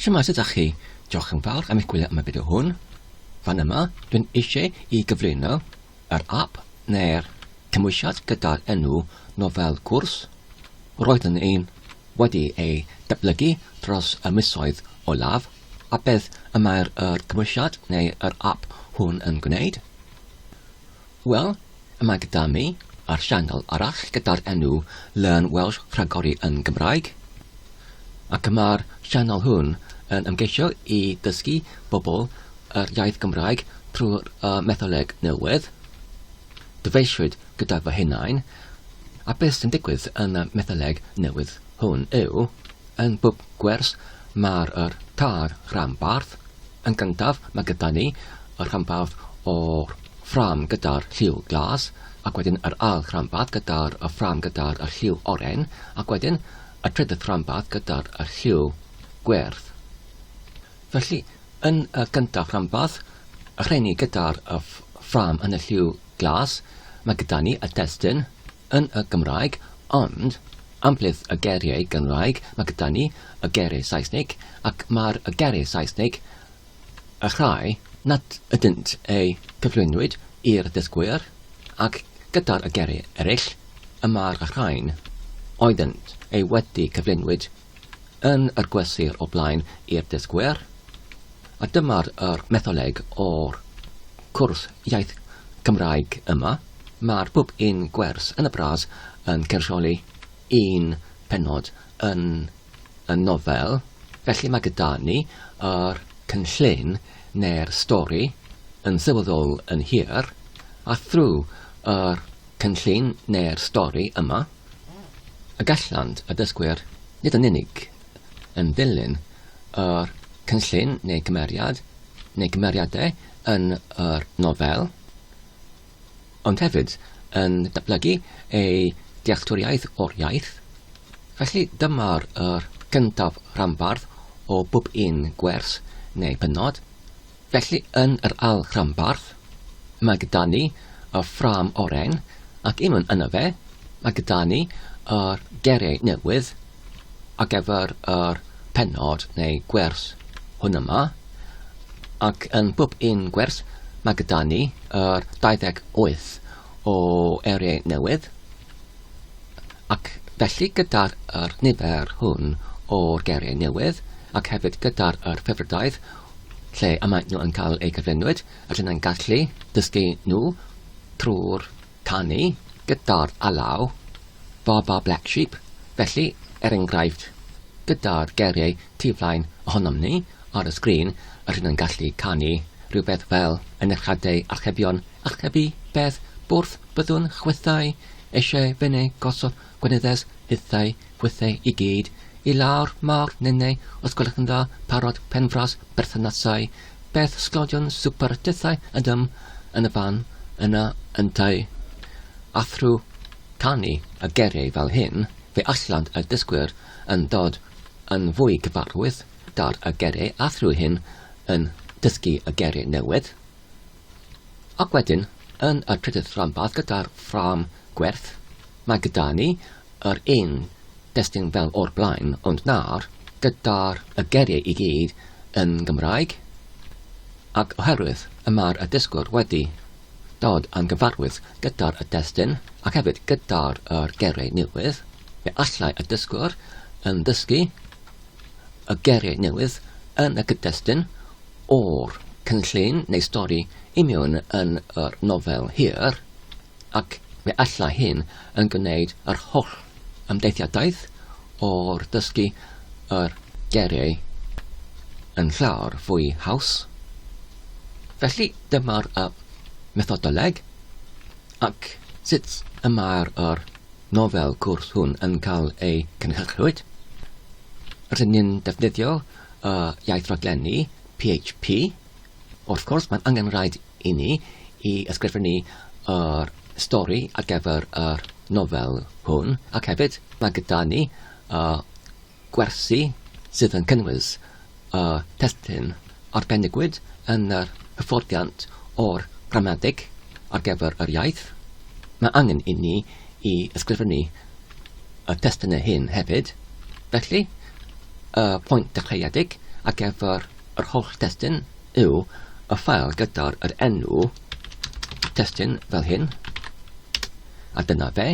Shwmae sut dach chi? Diolch yn fawr am eich gwylio am y fideo hwn. Fan yma, dwi'n eisiau i gyflwyno yr app neu'r cymwysiad gyda'r enw nofel cwrs. Roeddwn i'n wedi ei datblygu dros y misoedd olaf, a beth y mae'r yr cymwysiad neu yr app hwn yn gwneud? Wel, yma gyda mi ar sianel arall gyda'r enw Learn Welsh Rhagori yn Gymraeg, ac y mae'r sianel hwn yn ymgeisio i ddysgu bobl yr iaith Gymraeg trwy'r uh, metholeg newydd. Dyfeisiwyd gyda fy hunain, a beth sy'n digwydd yn y metholeg newydd hwn yw, yn bwb gwers mae'r yr tar rhan barth, Yn gyntaf, mae gyda ni y rhanbarth o'r ffrâm gyda'r lliw glas, ac wedyn yr ail ranbarth gyda'r y ffrâm gyda'r y lliw oren, ac wedyn y trydydd ranbarth gyda'r y lliw gwyrdd. Felly, yn y gyntaf ranbarth, y rheni gyda'r y ffrâm yn y lliw glas, mae gyda ni y destun, yn y Gymraeg, ond, amlith y geiriau Gynraeg, mae gyda ni y geiriau Saesnig, ac mae'r y geiriau Saesnig, y rhai nad ydynt eu cyflwynwyd i'r ddysgwyr, ac gyda'r y geiriau eraill, y mae'r y rhain oeddynt eu wedi cyflwynwyd yn yr gwesir o blaen i'r dysgwyr, a dyma'r yr metholeg o'r cwrs iaith Cymraeg yma, mae'r pub un gwers yn y bras yn cynrychioli un pennod yn y nofel, felly mae gyda ni yr cynllun neu'r stori yn sylweddol yn hir, a thrwy yr cynllun neu'r stori yma, y gallant y dysgwyr nid yn unig yn dilyn yr cynllun neu gymeriad neu gymeriadau yn yr nofel, ond hefyd yn datblygu eu dealltwriaeth o'r iaith. Felly dyma'r yr gyntaf ranbarth o bob un gwers neu bennod. Felly yn yr ail ranbarth, mae gyda ni y ffrâm oren, ac unwn yno fe, mae gyda ni yr geriau newydd ar gyfer yr pennod neu gwers hwn yma, ac yn bob un gwers mae gyda ni yr 28 o eriau newydd, ac felly gyda'r nifer hwn o'r geriau newydd, ac hefyd gyda'r ffefrydaeth lle y maen nhw yn cael eu cyflenwyd a lle mae'n gallu dysgu nhw trwy'r canu gyda'r alaw Ba Ba Black Sheep, felly, er enghraifft, gyda'r geiriau tu flaen ohonom ni ar y sgrin y rhyn yn gallu canu rhywbeth fel yn eich adau archebion archebu beth bwrth byddwn chwithau eisiau fyny gosod Gwnedes hithau hwythau i gyd i lawr mawr nenau os gwelwch yn dda parod penfras berthynasau beth sglodion swper tithau ydym yn y fan yna yntau a thrw canu a geiriau fel hyn fe allant y dysgwyr yn dod yn fwy cyfarwydd dar y geiriau a thrw hyn yn dysgu y geiriau newydd Ac wedyn, yn y trydydd rhanbarth gyda'r ffrâm gwerth, mae gyda ni yr un destun fel o'r blaen ond nawr gyda'r y geiriau i gyd yn Gymraeg ac oherwydd y mae'r y dysgwr wedi dod yn gyfarwydd gyda'r y destun ac hefyd gyda'r yr geiriau newydd, fe allai y dysgwr yn dysgu y geiriau newydd yn y cyd-destun o'r cynllun neu stori i mewn yn yr nofel hir, ac fe alla hyn yn gwneud yr holl ymdeithiadaeth o'r dysgu yr geiriau yn llawer fwy haws. Felly dyma'r y methodoleg ac sut y mae'r yr nofel cwrs hwn yn cael ei cynhyrchwyd. Rydyn ni'n defnyddio y iaith raglenni, PHP. Wrth gwrs, mae'n angenrhaid i ni i ysgrifennu yr stori ar gyfer yr nofel hwn, ac hefyd mae gyda ni y gwersi sydd yn cynnwys y testun arbenigwyd yn yr hyfforddiant o'r gramadeg ar gyfer yr iaith. Mae angen i ni i ysgrifennu y testunau hyn hefyd, felly, Y pwynt dechreuedig ar gyfer yr holl destun yw y ffael gyda'r yr enw testun fel hyn, a dyna fe.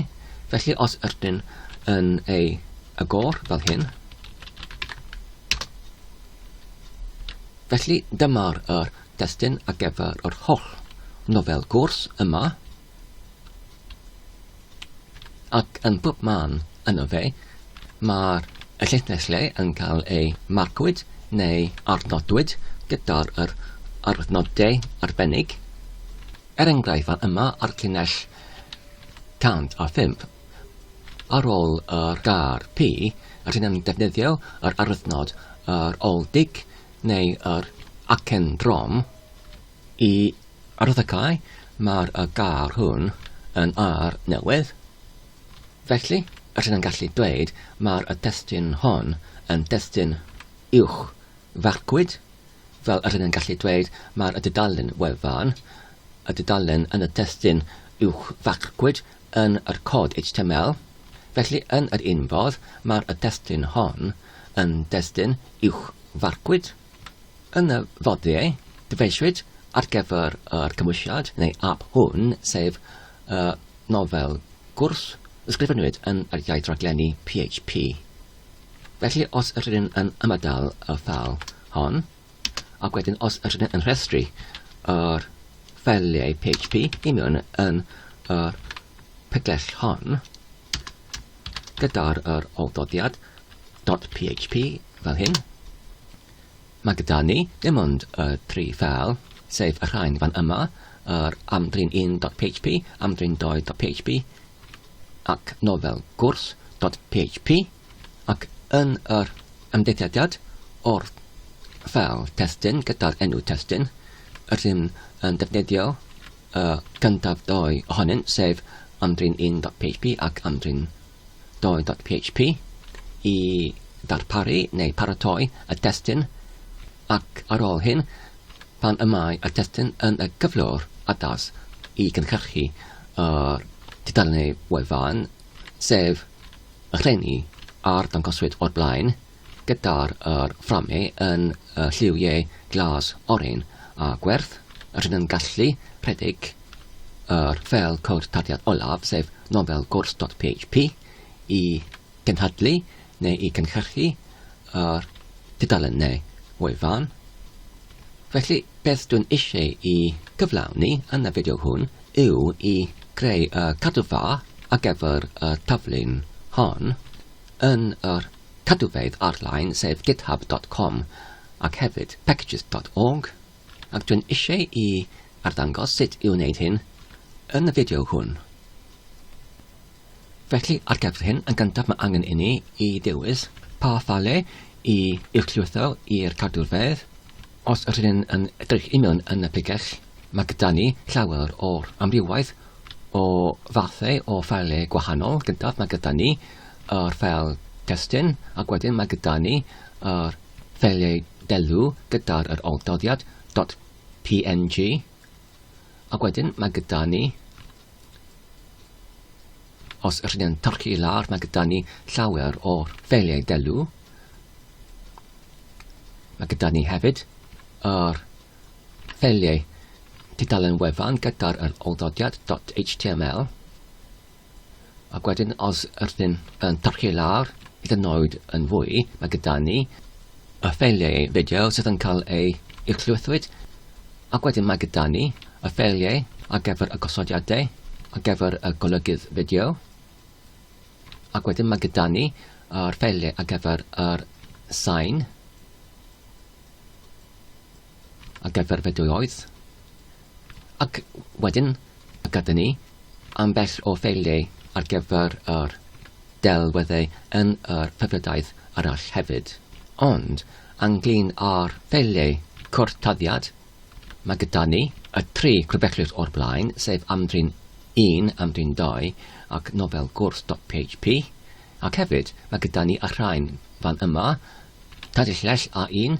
Felly os ydyn yn ei agor fel hyn, felly dyma'r yr destun ar gyfer yr holl nofel gwrs yma, Ac yn bob man yno fe, mae'r llinell le yn cael ei marcwyd neu arnodwyd gyda'r yr arnodau arbennig. Er enghraifft, fan yma ar llinell 105, ar ôl yr gair pi, rydyn yn defnyddio yr arnod yr oldig neu yr acen drom, Y arddegau mae'r y gair hwn yn air newydd. Felly, rydyn yn gallu dweud mae'r y testyn hon yn destyn uwch farcwyd, fel rydyn yn gallu dweud mae'r y dudalen wefan, y dudalen yn y testyn uwch farcwyd yn yr cod HTML. Felly, yn yr un fodd, mae'r y testyn hon yn destyn uwch farcwyd. Yn y fodiau dyfeisiwyd ar gyfer yr cymwysiad, neu ap hwn, sef y nofel gwrs, ysgrifennwyd yn yr iaith raglenni PHP. Felly os yr ydyn yn ymadael y ffel hon, ac wedyn os yr ydyn yn rhestru yr ffeliau PHP i mewn yn yr pegell hon, gyda'r yr olddodiad dot php fel hyn. Mae gyda ni ddim ond y tri ffeil, sef y rhain fan yma, yr amdrin 1.php, amdrin 2.php ac nofel gwrs.php ac yn yr ymdeithiadiad o'r ffeil testyn gyda'r enw testyn rydym yn defnyddio y gyntaf dou ohonynt, sef ymdrin 1.php ac ymdrin 2.php, i ddarparu neu paratoi y testun ac ar ôl hyn, pan y mae y testun yn y cyflwr addas i gynhyrchu yr tudalennau wefan, sef y rheini a'r dangoswyd o'r blaen, gyda'r yr fframau yn y lliwiau glas oren a gwerth, rydyn yn gallu rhedeg yr ffeil cod tarddiad olaf, sef nofel gwrs.php, i gynhadlu neu i gynhyrchu yr tudalennau o'i fan. Felly, beth dwi'n eisiau i gyflawni yn y fideo hwn yw i greu y cadw fa a gefr y taflun hon yn yr Cadwfeydd ar-lein sef github dot com ac hefyd packages dot org ac dwi'n eisiau i arddangos sut i wneud hyn yn y fideo hwn. Felly ar gyfer hyn yn gyntaf mae angen inni i ddewis pa ffale i uwchlwytho i'r cadwfeydd. Os yr hyn yn edrych i mewn yn y pregell mae gyda ni llawer o'r amrywaeth o fathau o ffale gwahanol. Gyntaf mae gyda ni yr ffeil testun ac wedyn mae gyda ni yr ffeiliau delw gyda'r yr oldoddiad .png ac wedyn mae gyda ni os ydych chi'n torchi i lawr mae gyda ni llawer o'r ffeiliau delw mae gyda ni hefyd yr ffeiliau tudalen wefan gyda'r yr oldoddiad .html Ac wedyn os ydyn yn parchu lawr hyd yn oed yn fwy, mae gyda ni y ffeiliau fideo sydd yn cael eu uwchlwythwyd, ac wedyn mae gyda ni y ffeiliau ar gyfer y gosodiadau, ar gyfer y golygydd fideo, ac wedyn mae gyda ni yr ffeiliau ar gyfer yr sain. a gyfarfyddiwyd, ac wedyn y gyda ni ambell o ffeiliau ar gyfer yr delweddau yn yr hyfryddaeth arall hefyd. Ond, ynglŷn â'r ffeiliau cwrtaddiad, mae gyda ni y tri clwbellus o'r blaen, sef amdrin 1, amdrin 2, ac nofel gwrs dot php, ac hefyd mae gyda ni y rhain fan yma, Tadellell A1,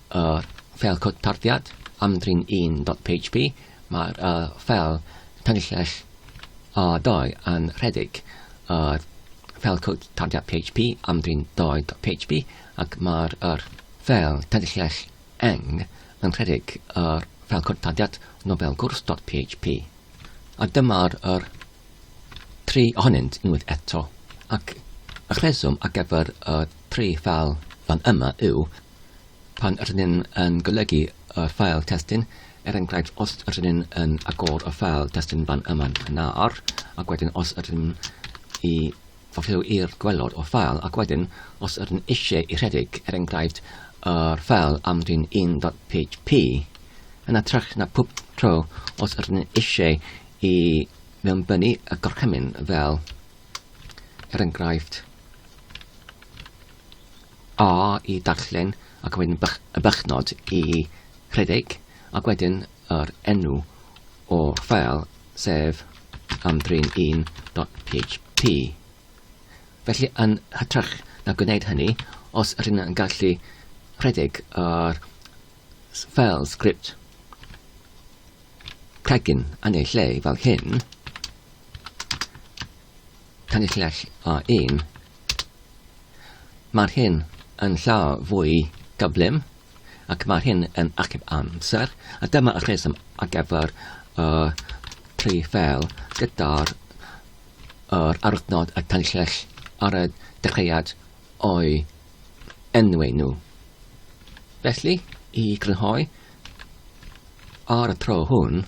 Yr ffeil cod tarddiad am-drin 1.php, mae'r uh, ffeil tanllell A2 yn rhedeg yr ffeil cod tarddiad PHP am-drin 2.php ac mae'r er, ffeil tanllell eng yn rhedeg yr ffeil cod tarddiad nofel gwrs.php. A dyma'r er, tri ohonynt unwaith eto, ac y rheswm ar gyfer y tri ffeil fan yma yw Pan ydyn ni'n yn golygu y ffael testun, er enghraifft os ydyn ni'n yn agor y ffael testun fan yma'n gynnar, ac wedyn os ydyn ni'n i fafrio i'r gwelod o ffael, ac wedyn os ydyn eisiau i rhedeg, er enghraifft, yr ffael am drin 1.php, yn atrych na pob tro os ydyn ni'n eisiau i mewnbynnu y gorchymyn fel, er enghraifft, A i darllen ac wedyn y bychnod i rhedeg ac wedyn yr enw o'r ffeil sef amdrin1.php. Felly yn hytrach na gwneud hynny, os ydyn yn gallu rhedeg yr ffeil sgript cregyn yn ei lle fel hyn, tanilliach a 1 Mae'r hyn yn llawer fwy gyflym ac mae'r hyn yn achub amser, a dyma y rheswm ar gyfer y tri fel gyda'r yr arwythnod y tanllell ar y dechreuad o'i enwi nhw. Felly, i grynhoi, ar y tro hwn,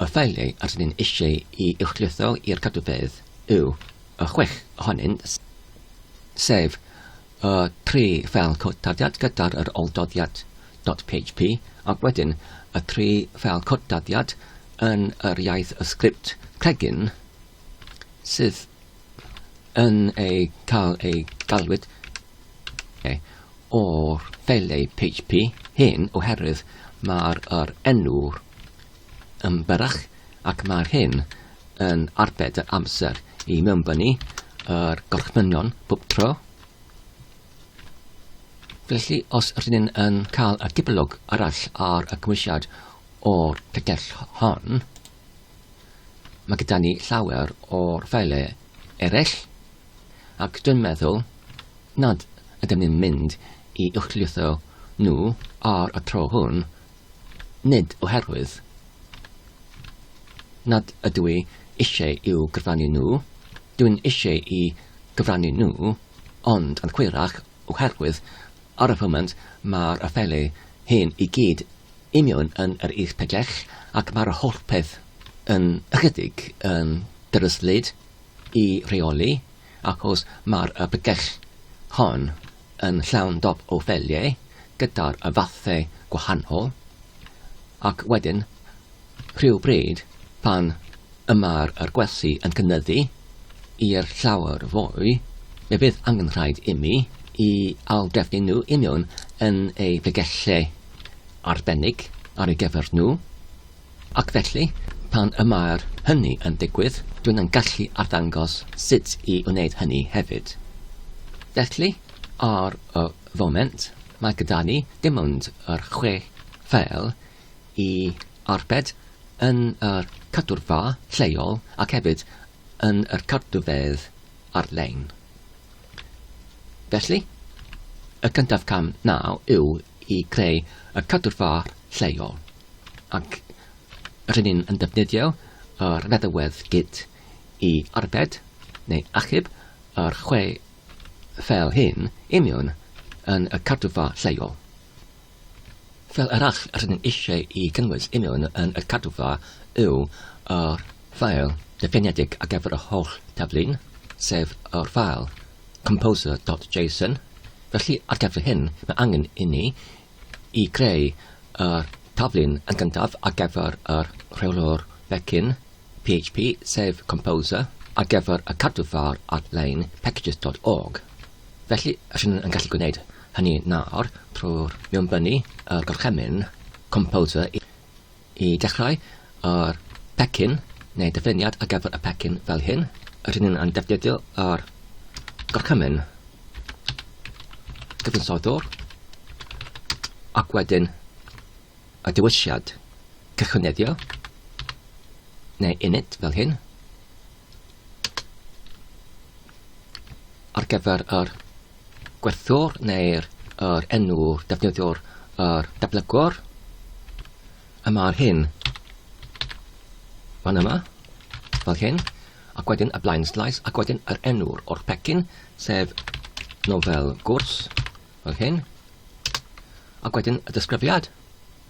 y ffeiliau rydyn ni'n eisiau i uwchlwytho i'r cadwfedd yw y chwech ohonynt, sef y tri ffeil cod tarddiad gyda'r yr oldoddiad .php ac wedyn y tri ffeil cod tarddiad yn yr iaith y sgript cregyn sydd yn ei cael ei galwyd e, o'r ffeilau PHP hyn oherwydd mae'r yr enw'r yn byrrach ac mae'r hyn yn arbed yr amser i mewnbynnu yr gorchmynion bob tro. Felly, os rydyn ni'n yn cael y dibylog arall ar y cymwysiad o'r pegell hon, mae gyda ni llawer o'r ffailau eraill, ac dwi'n meddwl nad ydym ni'n mynd i uwchlwytho nhw ar y tro hwn nid oherwydd nad ydw i eisiau i'w gyfrannu nhw, dwi'n eisiau i gyfrannu nhw, ond yn hwyrach oherwydd ar y foment mae'r afaelu hyn i gyd i mewn yn yr is pellach ac mae'r holl peth yn ychydig yn ddryslyd i reoli achos mae'r pellach hon yn llawn dop o ffeliau gyda'r fathau gwahanol ac wedyn rhywbryd pan y mae'r yr gwersi yn cynyddu i'r llawer fwy fe fydd angen rhaid imi i aildrefnu nhw i mewn yn eu pregellau arbennig ar ei gyfer nhw. Ac felly, pan y mae'r hynny yn digwydd, dw i'n gallu arddangos sut i wneud hynny hefyd. Felly, ar y foment, mae gyda ni dim ond yr chwe ffeil i arbed yn yr cadwrfa lleol ac hefyd yn yr cardufeydd ar-lein. Felly, y cyntaf cam naw yw i greu y cadwrfaoedd lleol, ac rŷn ni'n yn defnyddio yr feddalwedd Git i arbed neu achub yr chwe ffeil hyn i mewn yn y cadwfa lleol. Ffeil arall rŷn ni'n eisiau i gynnwys i mewn yn y cadwfa yw yr ffeil difreinedig ar gyfer y holl daflu'n, sef yr ffeil composer.json, felly ar gyfer hyn mae angen inni i greu yr taflun yn gyntaf ar gyfer yr rheolwr pecyn php sef composer ar gyfer y cadw fawr ar-lein packages.org. Felly, rydyn yn gallu gwneud hynny nawr trwy'r mewnbynnu y gorchymyn composer i I dechrau, o'r pecyn, neu dyfyniad ar gyfer y pecyn fel hyn, rydyn ni yn defnyddio yr gorchymyn cyfansoddwr ac wedyn y dewisiad cychwyneddio neu init fel hyn ar gyfer yr gwerthwr neu'r yr enw defnyddiwr yr datblygwr. A mae'r hyn fan yma, fel hyn, ac wedyn y blaen slais, ac wedyn yr enw'r o'r pecyn, sef nofel gwrs, fel hyn, ac wedyn y disgrifiad,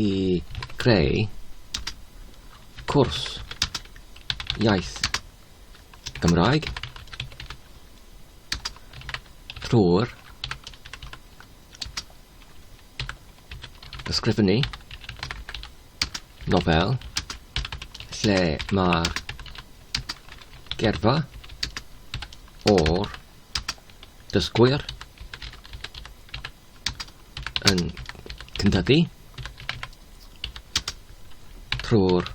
i greu cwrs iaith Gymraeg trwy'r ysgrifennu nofel lle mae'r gerfa o'r dysgwyr yn cynyddu trwy'r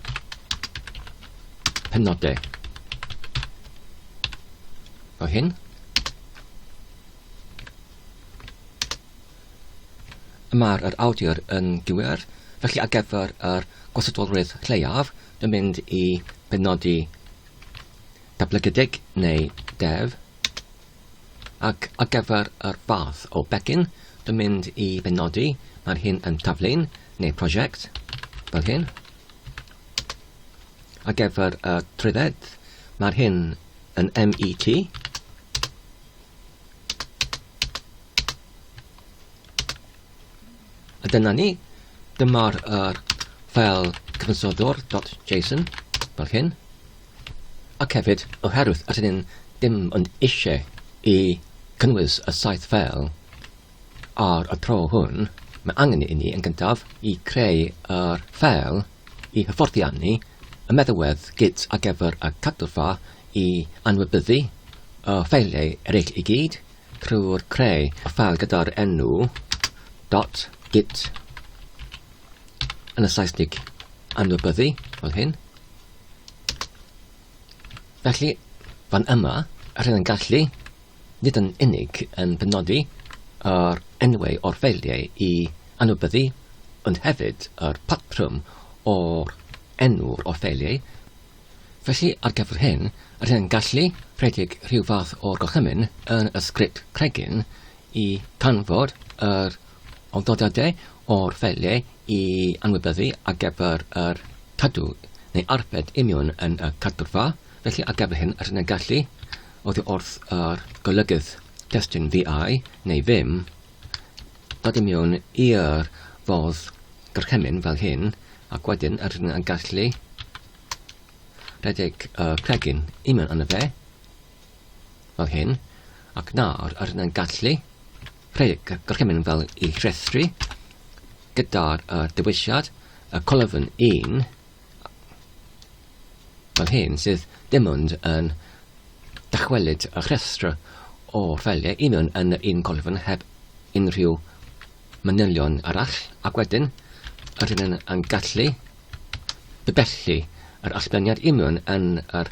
penodau o hyn. Mae'r yr awdur yn gywir, felly ar gyfer yr gwasadolrwydd lleiaf, dwi'n mynd i benodi dablygydig neu dev Ac ar gyfer yr fath o becyn, dwi'n mynd i benodi, mae'r hyn yn taflen, neu prosiect, fel hyn. Ar gyfer y trwydded, mae'r hyn yn MET. A dyna ni, dyma'r yr fel cyfansoddwr.json, fel hyn. Ac hefyd, oherwydd rydyn ni ddim ond eisiau i gynnwys y saith ffeil ar y tro hwn, mae angen inni yn gyntaf i creu yr ffeil i hyfforddiannu y meddalwedd git ar gyfer y cadwfa i anwybyddu y ffeiliau eraill i gyd trwy'r creu y ffeil gyda'r enw dot git yn y Saesnig anwybyddu fel hyn. Felly, fan yma, rydyn yn gallu nid yn unig yn penodi yr enwau o'r ffeiliau i anwybyddu, ond hefyd yr patrwm o'r enw o'r ffeiliau. Felly, ar gyfer hyn, rydyn yn gallu rhedeg rhyw fath o'r gorchymyn yn y sgript cregyn i canfod yr Ond dod â de o'r fele i anwybyddu ar gyfer yr cadw, neu arbed union yn y cadwrfa, felly ar gyfer hyn rydyn yn gallu oddi wrth yr golygydd testun fiau neu ddim, dod i mewn i'r fodd gorchymyn fel hyn, ac wedyn rydyn yn gallu rhedeg y pregyn union yn y fe, fel hyn, ac nawr yr yn gallu rhedeg y gorchymyn fel y rhestri gyda'r uh, dewisiad y colofn 1 fel hyn sydd dim ond yn dychwelyd y rhestr o ffeiliau un o'n yn un colofn heb unrhyw manylion arall ac wedyn yr hyn yn gallu bybellu yr allbleniad union yn yr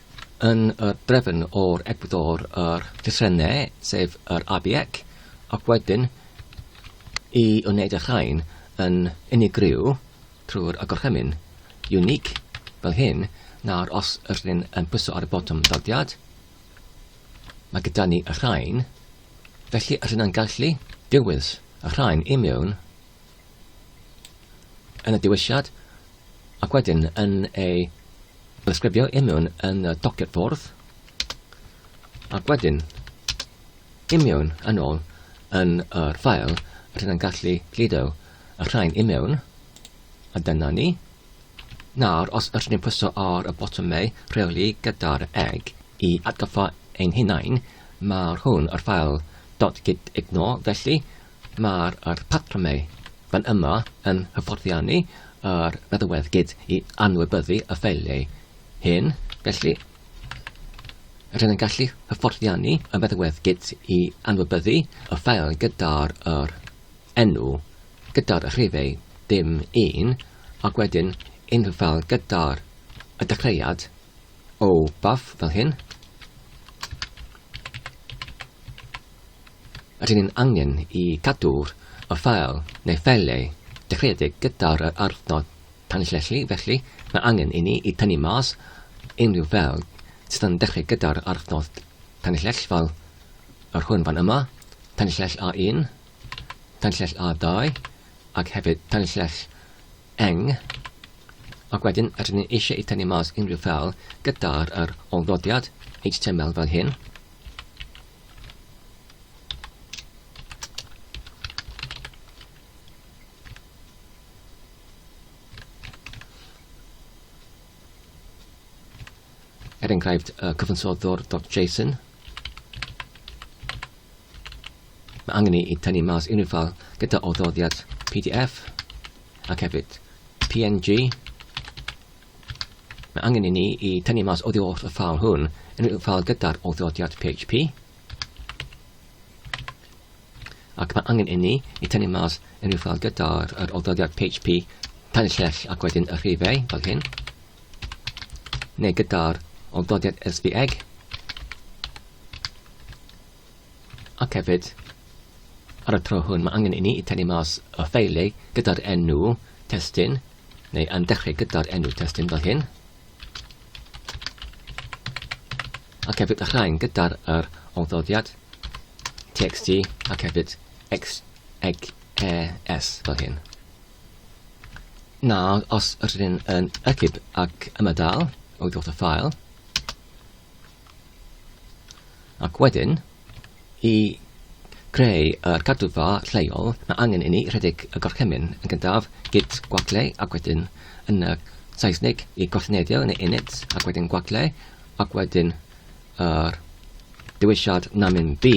yn y drefn o'r egwyddor yr llythrenne, sef yr ABEC, ac wedyn i wneud y rhain yn unigryw trwy'r agorchymyn unique fel hyn, nawr os yr hyn yn pwyso ar y botwm daliad, mae gyda ni y rhain, felly yr hyn yn gallu dewis y rhain i mewn yn y diwylliad ac wedyn yn ei ddisgrifio i mewn yn y dociad ffordd ac wedyn i mewn yn ôl yn yr ffael rydyn yn gallu gludo y rhain i mewn a dyna ni. Nawr, os ydyn ni'n pwyso ar y botymau rheoli gyda'r egg i atgoffa ein hunain, mae'r hwn yr ffael .git ignore felly Mae'r patrymau fan yma yn hyfforddiannu yr feddywedgyd i anwybyddu y ffeiliau hyn, felly rydyn yn gallu hyfforddiannu y feddywedgyd i anwybyddu y ffeil gyda'r yr enw, gyda'r rhifau dim un, ac wedyn unrhyw ffeil gyda'r y dechreuad o baf fel hyn. Rydyn ni'n angen i gadw'r ffeil neu ffeiliau dechreuedig gyda'r adnodd tanllyllu, felly mae angen i ni i tynnu mas unrhyw ffeil sydd yn dechreu gyda'r adnodd tanllell fel yr hwn fan yma, tanllell A1, tanllell A2 ac hefyd tanllell eng, ac wedyn rydyn ni eisiau i tynnu mas unrhyw ffeil gyda'r ôl-ddodiad HTML fel hyn. er enghraifft uh, cyfansoddwr.json. Mae angen i tynnu mas unrhyw ffal gyda oddoddiad PDF ac hefyd PNG Mae angen i ni i tynnu mas oddi wrth y ffeil hwn unrhyw ffeil gyda'r awdurdodiad PHP ac mae angen i ni i tynnu mas unrhyw ffeil gyda'r awdurdodiad PHP tan y llell ac wedyn y rhifau fel hyn neu gyda'r awdurdodiad SBEG Ac hefyd, ar y tro hwn, mae angen i ni tynnu mas y ffeiliau gyda'r enw testun, neu yn dechrau gyda'r enw testun fel hyn. Ac hefyd y rhain gyda'r yr ongddoddiad txt ac hefyd xegs fel hyn. Nawr, os rydyn yn ecib ac ymadael o ddodd y ffael, Ac wedyn, i greu yr cadwfa lleol, mae angen i ni rhedeg y gorchymyn yn gyntaf, git gwagle, ac wedyn yn y Saesneg i gorchnedio yn y init, ac wedyn gwagle, ac wedyn yr dewisiad namin B,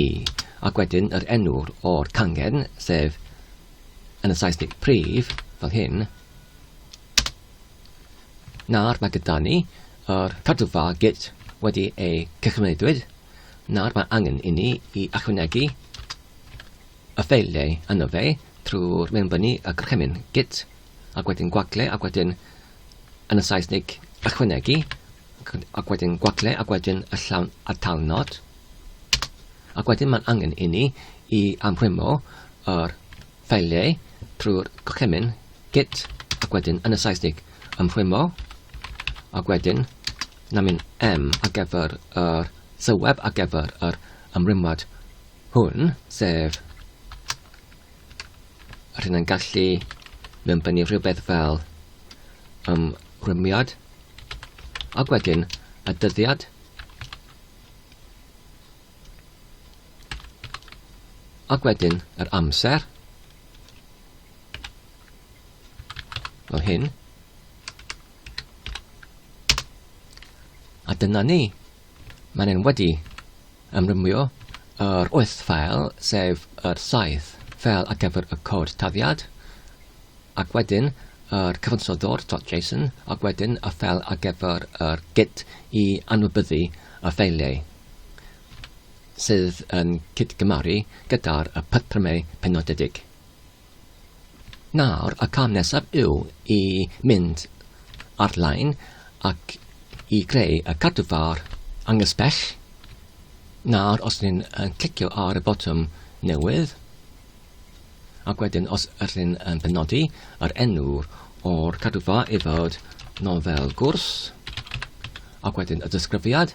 ac wedyn yr enw o'r cangen, sef yn y Saesneg prif, fel hyn. Nawr mae gyda ni Ar cadwfa Git wedi ei gychwynnedwyd, nawr mae angen inni i ychwanegu y ffeiliau yno fe trwy'r mewnbynnu y gorchymyn Git ac wedyn gwagle ac wedyn yn y Saesnig ychwanegu ac wedyn gwagle ac wedyn y llawn atalnod ac wedyn mae'n angen inni i amrwymo yr Ffeiliau, trwy'r gorchymyn, git, ac wedyn, yn y Saesnig, ymrwymo, ac wedyn, namin M ar gyfer yr sylweb ar gyfer yr ymrwymwad hwn, sef yr hyn yn gallu mewn bennu rhywbeth fel ymrwymiad, ac wedyn, y dyddiad, Ac wedyn yr amser. Fel hyn. A dyna ni. Mae'n e'n wedi ymrwymio yr wyth ffael, sef yr saith fel ar gyfer y cod taddiad, ac wedyn yr cyfansoddwr.json, ac wedyn y ffel ar gyfer yr git i anwybyddu y ffeiliau. sydd yn cydgymaru gyda'r patrymau penodedig. Nawr, y cam nesaf yw i mynd ar-lein ac i greu y cadw far angysbell. Nawr, os ni'n clicio ar y botwm newydd, ac wedyn os ydych chi'n um, benodi yr enw o'r cadwfa i fod nofel gwrs ac wedyn y disgrifiad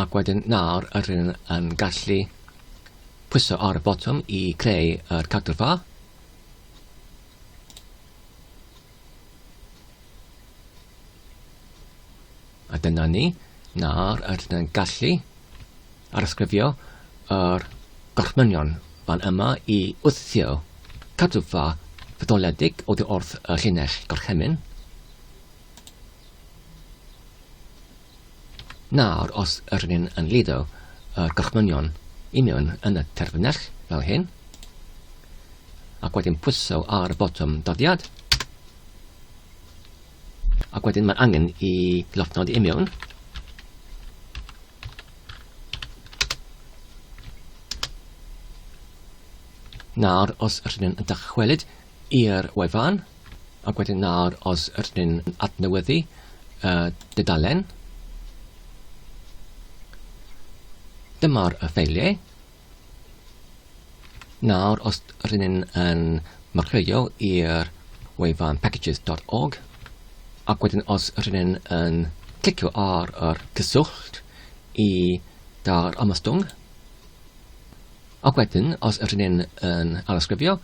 Ac wedyn nawr yr hyn yn gallu pwyso ar y botwm i creu yr cadw'r fa. A dyna ni, nawr rydyn yn gallu arysgrifio yr gorchmynion fan yma i wthio cadwfa fetholedig oddi wrth y llinell gorchymyn. Nawr, os yr ni'n yn lido y gorchmynion i mewn yn y terfynell fel hyn, ac wedyn pwyso ar y botwm doddiad, Ac wedyn mae angen i lofnodi i mewn. Nawr, os rydyn yn dychwelyd i'r wefan, ac wedyn nawr, os rydyn yn adnewyddu uh, dydalen, dyma'r ffeiliau, Nawr, os rydyn ni'n yn marchleuo i'r wefan packages.org, ac wedyn os rydyn ni'n yn clicio ar yr cyswllt i dar ymostwng, ac wedyn os rydyn ni'n yn alysgrifio,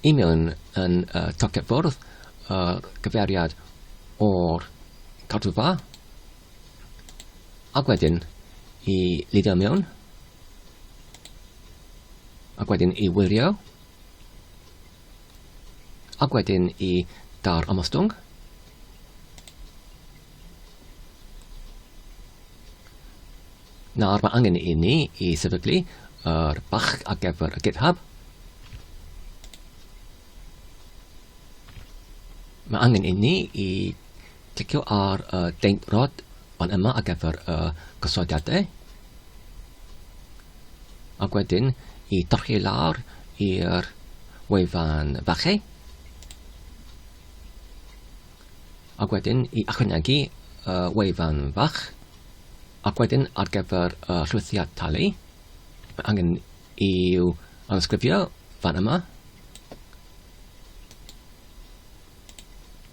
i mewn yn uh, tocyn ffwrdd, uh, gyfeiriad o'r cadwfa, Ac wedyn i lidio mewn. Ac wedyn i wirio. Ac wedyn i dar ymostwng. Nawr mae angen i ni i sefydlu yr bach ar gyfer y GitHub. Mae angen i ni i Cliciwch ar y Deinc Rhod fan yma ar gyfer y gosodiadau ac wedyn i dorchi lawr i'r wefan fachu ac wedyn i ychwanegu y wefan fach ac wedyn ar gyfer y llwythiad talu mae angen i'w anysgrifio fan yma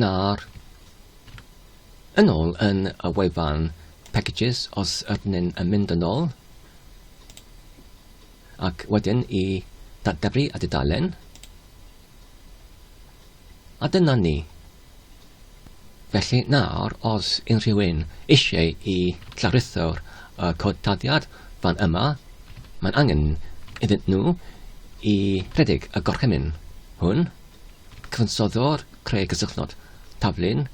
Nawr, yn ôl yn y wefan packages os ydyn ni'n mynd yn ôl ac wedyn i datgelu a dudalen. A dyna ni. Felly nawr, os unrhyw un eisiau i Llaruthr y cod taddiad fan yma, mae'n angen iddyn nhw i redeg y gorchymyn hwn, cyfansoddwr creu cysylltnod, taflu'n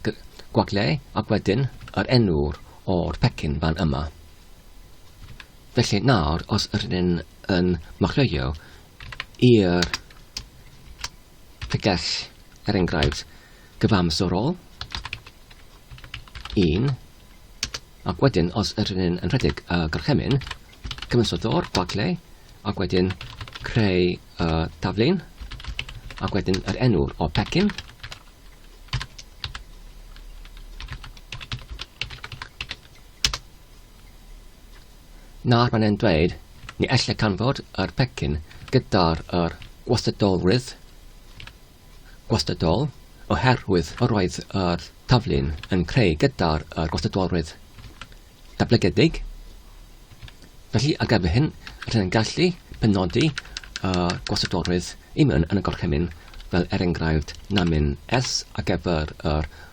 gwagle ac wedyn yr enw'r o'r pecyn fan yma. Felly nawr, os yr hyn yn machleuio i'r y gell, er enghraifft, gyfamserol, un, ac wedyn os yr un yn rhedeg y gorchymyn, cyfansoddwr, gwagle, ac wedyn creu y taflen, ac wedyn yr enw o pecyn, Nawr mae'n e'n dweud ni elle canfod yr pecyn gyda'r yr gwastadolrwydd, gwastadol, oherwydd yr oedd yr taflu'n yn creu gyda'r yr gwastadolrwydd dablygedig. Felly ar gyfer hyn, rydyn yn gallu penodi y gwastadolrwydd i mewn yn y gorchymyn fel er enghraifft namin S ar gyfer yr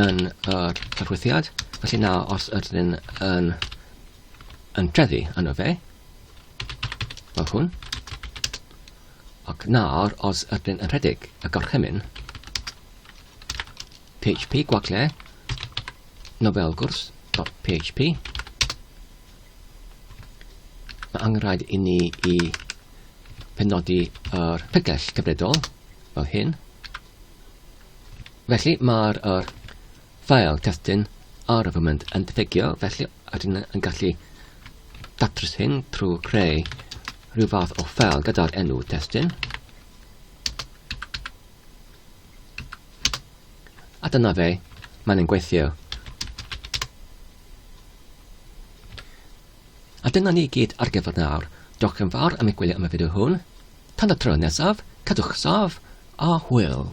yn yr arwyddiad. Felly na, os ydyn ni'n yn, yn trefi yno fe, fel hwn, ac nawr os ydyn yn rhedeg y gorchymyn, php gwagle, novelgwrs.php, mae angenrhaid i ni i penodi yr pegell cyfredol fel hyn, Felly mae'r er, file testyn argument yn diffygio, felly ydyn yn gallu datrys hyn trwy creu rhyw fath o ffel gyda'r enw testyn. A dyna fe, mae'n yn gweithio. A dyna ni gyd ar gyfer nawr. Diolch yn fawr am eich gwylio am y fideo hwn. Tan y tro nesaf, cadwch sâf a hwyl!